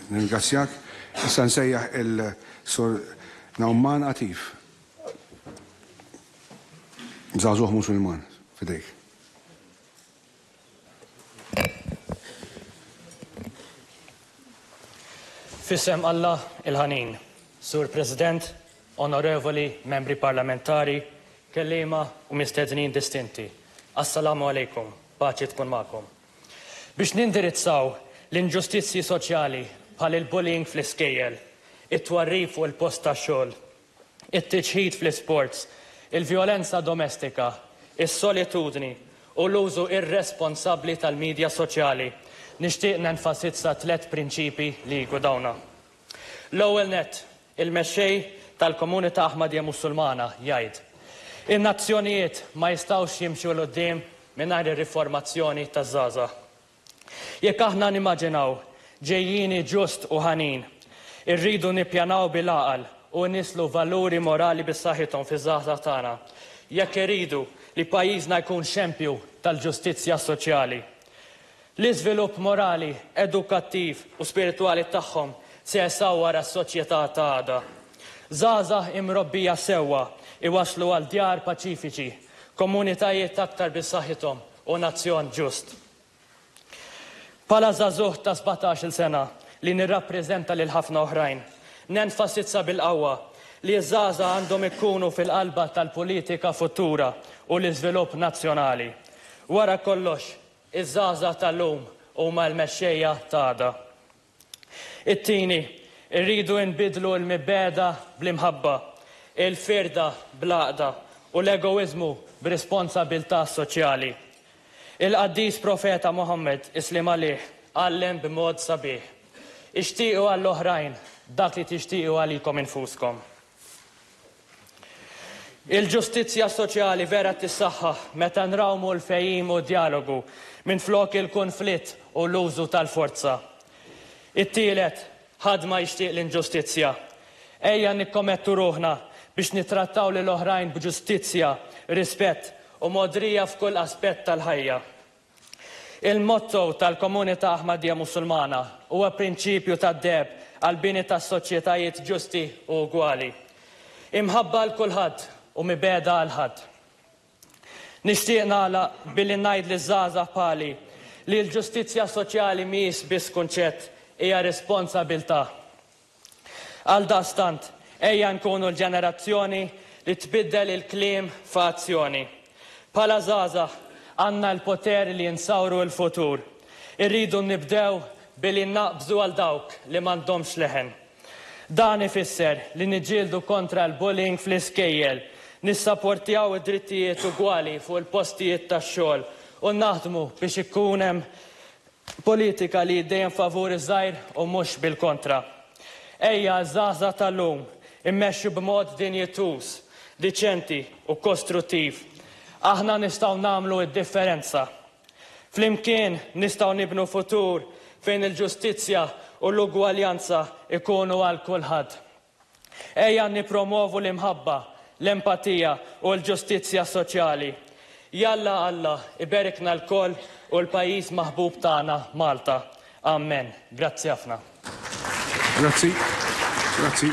Nirringrazzjak. Issa nsejjaħ il-Sur Nauman Atif. Żagħżugħ Musulman, f'idejk. F'isem Alla il-Ħanin, Sur President, Onorevoli Membri Parlamentari, Kelliema u Mistednin Distinti, Assalamu Għalejkum, Paċi tkun magħkom. Biex nindirizzaw l-inġustizzji soċjali bħal il-bullying fl-iskejjel, it-twarrib fuq il-post tax-xogħol, it-tiġħid fl-isports, il-vjolenza domestika, is-solitudni u l-użu irresponsabbli tal-midja soċjali, nixtieq nenfasizza tliet prinċipji li jgudawna. L-ewwel nett, il-Mexxej tal-Komunità Aħmadija Musulmana jgħid, In-nazzjonijiet ma jistgħux jimxu 'l quddiem mingħajr ir-riformazzjoni taż-żgħażagħ. Jekk aħna nimmaġinaw ġejjieni ġust u ħanin, irridu nippjanaw bil-għaqal u nnisslu valuri morali b'saħħithom fiż-żgħażagħ tagħna, jekk irridu li pajjiżna jkun xempju tal-ġustizzja soċjali. L-iżvilupp morali, edukattiv u spiritwali tagħhom se jsawwar għas-soċjetà ta' għada. Żgħażagħ imrobbija sewwa jwasslu għal djar paċifiċi, komunitajiet aktar b'saħħithom u nazzjon ġust. Bħala żagħżugħ ta' sbatax-il sena li nirrappreżenta lil ħafna oħrajn, nenfasizza bil-qawwa li ż-żgħażagħ għandhom ikunu fil-qalba tal-politika futura u l-iżvilupp nazzjonali. Wara kollox, Iż-żgħażagħ tal-lum huma l-mexxejja ta' għada. It-tieni, irridu nbiddlu l-mibgħeda bl-imħabba, il-firda bl-għaqda u l-egoiżmu b'responsabilità soċjali. Il-qaddis profeta Muħammad, isliem għalih, għallem b'mod sabiħ, Ixtiequ għall-oħrajn dak li tixtiequ għalikom infuskom. Il-ġustizzja soċjali vera tissaħħaħ meta nrawmu l-fehim u d-djalogu minflok il-kunflitt u l-użu tal-forza. It-tielet, ħadd ma jixtieq l-inġustizzja. Ejja nikkomettu ruħna biex nittrattaw lil oħrajn b'ġustizzja, rispett u mogħdrija f'kull aspett tal-ħajja. Il-motto tal-Komunità Aħmadija Musulmana huwa prinċipju tad-deheb għall-bini ta' soċjetajiet ġusti u ugwali, imħabba għal kulħadd u mibegħda għal ħadd. Nixtieq nagħlaq billi ngħid liż-żgħażagħ bħali li l-ġustizzja soċjali mhijiex biss kunċett, hija responsabilità. Għaldaqstant, ejja nkunu l-ġenerazzjoni li tbiddel il-kliem f'azzjoni. Bħala żgħażagħ, għandna l-poter li nsawru l-futur. Irridu nibdew billi naqbżu għal dawk li m'għandhomx leħen. Dan ifisser li niġġieldu kontra l-bullying fl-iskejjel, nissaportjaw id-drittijiet ugwali fuq il-postijiet tax-xogħol u naħdmu biex ikun hemm Politika li dejjem favur iż-żgħir u mhux bil-kontra. Ejja, iż-żgħażagħ tal-lum, immexxu b'mod dinjituż, diċenti u kostruttiv. Aħna nistgħu nagħmlu d-differenza. Flimkien nistgħu nibnu futur fejn il-ġustizzja u l-ugwaljanza jkunu għal kulħadd. Ejja nippromwovu l-imħabba, l-empatija u l-ġustizzja soċjali. Jalla Alla iberikna lkoll u l-pajjiż maħbub tagħna Malta. Amen. Grazzi ħafna. Grazzi. Grazzi.